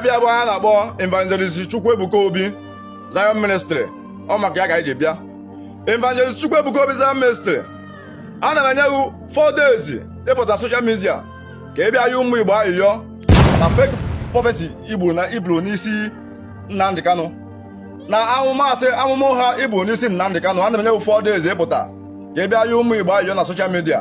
bịa bụ ha na-akpọ evangelist Chukwuebuka Obi Zion Ministry ọ maka ya ka anyị ji bịa evangelist Chukwuebuka Obi Zion Ministry a na m enye gị 4 days ịpụta soshal midia ka ị bịa yọọ ụmụ Igbo ayịyọ na fake prophecy i buru n'isi Nnamdi Kanu na amụma asị amụma ụgha i buru n'isi Nnamdi Kanu a na m enye gị 4 days ịpụta ka ị bịa yọọ ụmụ Igbo ayịyọ na soshal midia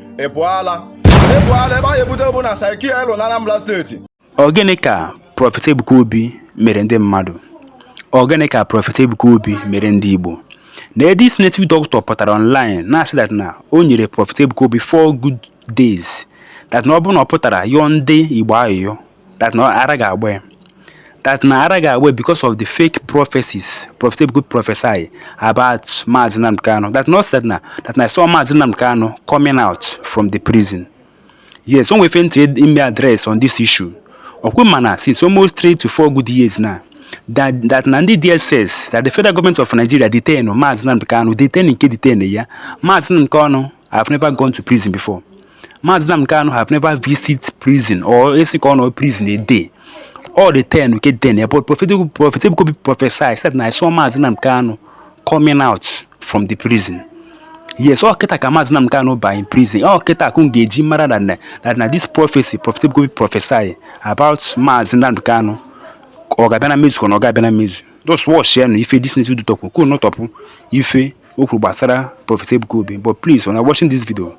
ị pụọ ala ị pụọ ala ebe anyị ebute wụ na psychia elu na Anambra steeti Ọ gịnị ka Prọfet Ebuka Obi mere ndị mmadụ? Ọ gịnị ka Prọfet Ebuka Obi mere ndị Igbo? Na this native doctor pụtara online na-asị that na o nyere Prọfet Ebuka Obi four good days that na ọ bụrụ na ọ pụtara yọọ ndị Igbo ayịyọ that na ara ga-agba ya that na ara ga-agba because of the fake prophecies Prophet Ebuka Obi prophesy about Mazi Nnamdi Kanu that na that na that na I saw Mazi Nnamdi Kanu coming out from the prison yes o nwe ife ntị ime address on this issue ọ kwa ị ma na since almost three to four good years now that that na ndị DSS that the federal government of Nigeria detain Mazi Nnamdi Kanu detain ka e detain ya Mazi Nnamdi Kanu have never gone to prison before Maazị Nnamdi Kanu have never visit prison or a sị ka ọ nọ prison a day ọ detain ka e detain ya but prophet prophet Ebuka Obi prophesy said na I saw Maazị Nnamdi Kanu coming out from the prison yes ọ kịta ka Maazị Nnamdi Kanu ba in prison ọ kịta ka m ga-eji mara that na that na this prophecy prophet Ebuka Obi prophesy about Maazị Nnamdi Kanu ọ ga-abịa na mmezu ka ọ na ọ ga-abịa na mmezu just watch ya na ife this native doctor pụta kwuo nọtọpụ ife o kwuru gbasara Prophet Ebuka Obi but please when you watching this video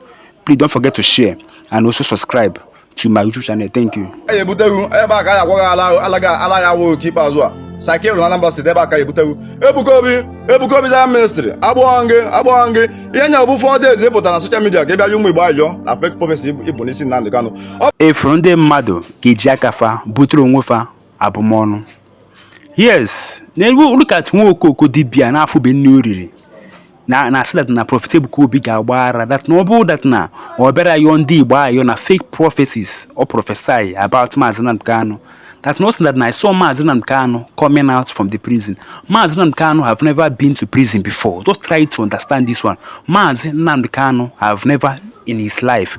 please don't forget to share and also subscribe to my YouTube channel thank you. anyị ebute wụ ebe a ka anyị agwọ gị ala ala gị ala ya awụ nke ikpeazụ a psychia na Anambra steeti ebe a ka anyị ebute wụ Ebuka Obi Ebuka Obi Zion Ministry agbụghọ gị agbụghọ gị ihe nya bụ 4 days ịpụta na soshal midia ka ị bịa yọọ ụmụ Igbo ayịyọ na fake prophecy i buru n'isi Nnamdi Kanu ị fụrụ ndị mmadụ ga-eji aka fa butere onwe fa abụmọnụ yes look at nwa okoko dibia n'afọ be nne oriri na na-asị that na prọfet ebuka obi ga-agba ara that na ọ bụrụ that na ọ bịara yọọ ndị igbo ayọ na fake prophecies ọ prophesy about maazị nnamdi kanu that na that na i saw maazị nnamdi kanu coming out from the prison maazị nnamdi kanu have never been to prison before just try to understand this one maazị nnamdi kanu have never in his life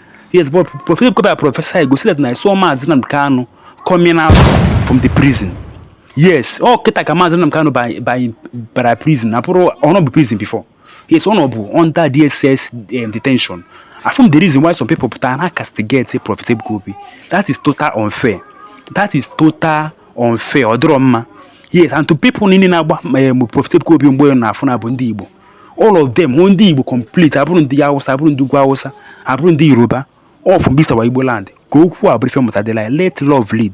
Yes, but Prophet Ebuka Obi prophesy go sị that na I saw Mazi Nnamdi Kanu coming out from the prison. Yes, ọ kịta ka Mazi Nnamdi Kanu ba ba ba prison. Na ọ bụrọ ọ nọbu prison before. Yes, ọ nọbu under DSS um, detention. Afụrọ m the reason why some people pụtara na castigate Prophet Ebuka Obi. That is total unfair. That is total unfair. Ọ dịrọ mma. Yes, and to people niile na-agba um, Prophet Ebuka Obi mgbe na-afụ na bụ ndị Igbo. all of them bụ ndị Igbo complete abụrọ ndị Hausa abụrọ ndị Ugwu Hausa abụrọ ndị Yoruba all from this our Igbo land ka okwu a bụrụ ife mụta dịla let love lead